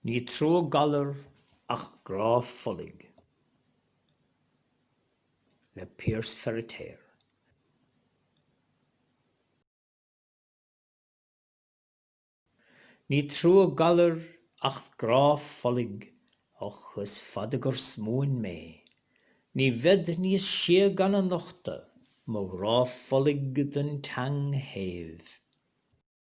Ní trua galar ach grá folaigh le Piaras Feiritéar. Ní trua galar ach grá folaigh och is fada gur smuain mé ní bhead níos sia gan a nochtadh mo ghrá folaigh don tseang shéimh.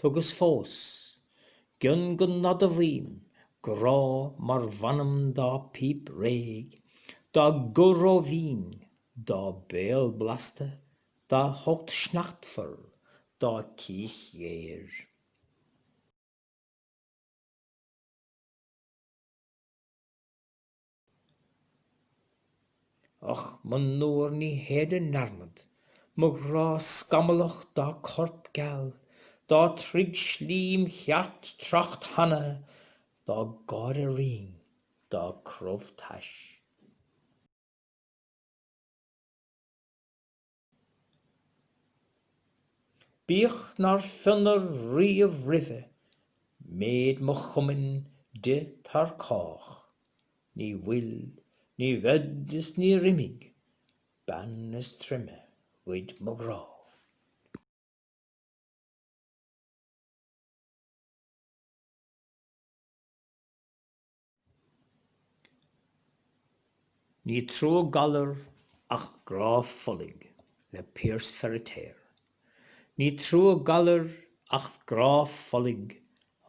Tugas fós, gion go n-admhaím, grá mar mh'anam dá píp réidh, dá guth róbhinn, dá béal blasta, dá hucht sneachtmhar, dá cích ghéir. Och, monuar ní théid i ndearmad, mo ghrá scamallach dá corp geal, dá troigh slim cheart trácht thana, dá gáire righin, dá crobh tais. Bíodh nár fionnadh riamh roimhe méid mo chumainn di tar cách, ní bhfuil, ní bhead is níor imigh bean is troime ghoid mo ghrá. Ní trua galar ach grá folaigh le Piaras Feiritéar. Ní trua galar ach grá folaigh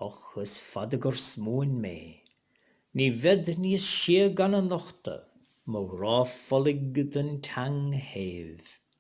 Och, is fada gur smuain mé Ní bhead níos sia gan a nochtadh Mo ghrá folaigh don tseang shéimh.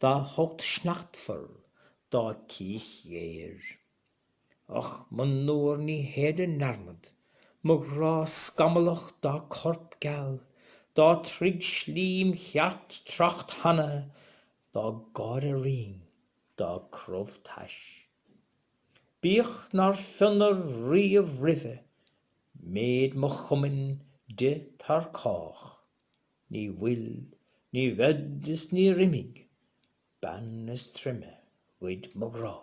dá hucht sneachtmhar, dá cích ghéir. Och, monuar ní théid i ndearmad, mo ghrá scamallach dá corp geal, dá troigh slim cheart trácht thana, dá gáire righin, dá crobh tais. Bíodh nár fionnadh riamh roimhe méid mo chumainn di tar cách. Ní bhfuil, ní bhead is níor imigh, bean is troime ghoid mo ghrá.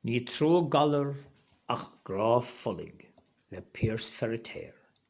Ní trua galar ach grá folaigh le Piaras Feiritéar.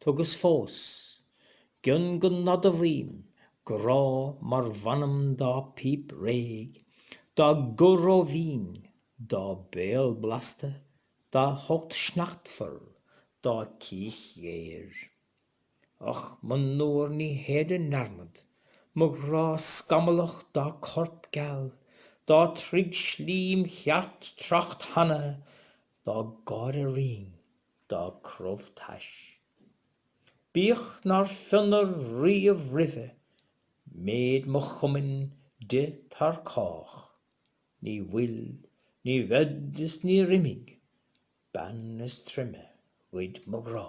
Tugas fós, gion go n-admhaim, grá mar mh'anam dá píp réidh, dá guth rómhín, dá béal blasta, dá hucht sneachtmhar, dá cích ghéir. Och, monuar ní théid i ndearmad, mo ghrá scamallach dá corp geal, dá troigh slím cheart trácht thana, dá gáire righin, dá crobh tais. Bíodh nár fionnadh riamh roimhe méid mo chumainn di tar cách, ní bhfuil, ní bhead is níor imigh bean is troime ghoid mo ghrá.